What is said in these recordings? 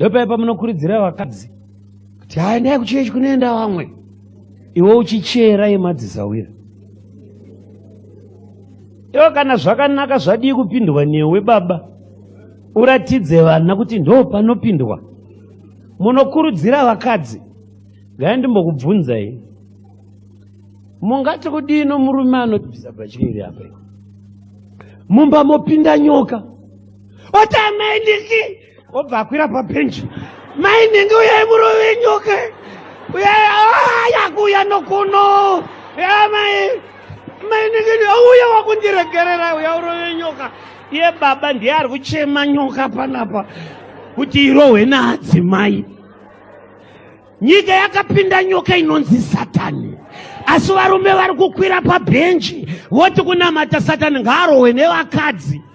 ndopaya pamunokurudzira vakadzi kuti haendai kuchechi kunoenda vamwe iwe uchichera yemadzisawira iwe kana zvakanaka zvadii kupindwa newe baba uratidze vana kuti ndo panopindwa munokurudzira vakadzi gai ndimbokubvunzai mungati kudii nomurume anobvisa bachiri iri apa mumba mopinda nyoka oti amai niki obva akwira pabhenji mai nhingi uyai murove nyoka uyai ah, yakuuya nokuno yamai mai nhingi uya wakundiregerera uya urove nyoka iye baba ndiye ari kuchema nyoka panapa kuti irohwe naadzimai nyika yakapinda nyoka inonzi satani asi varume vari kukwira pabhenji voti kunamata satani ngaarohwe nevakadzi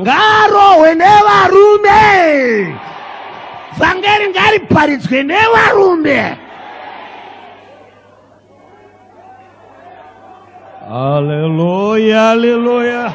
Ngarohwe nevarume. Vhangeri ngariparidzwe nevarume. Hallelujah, hallelujah.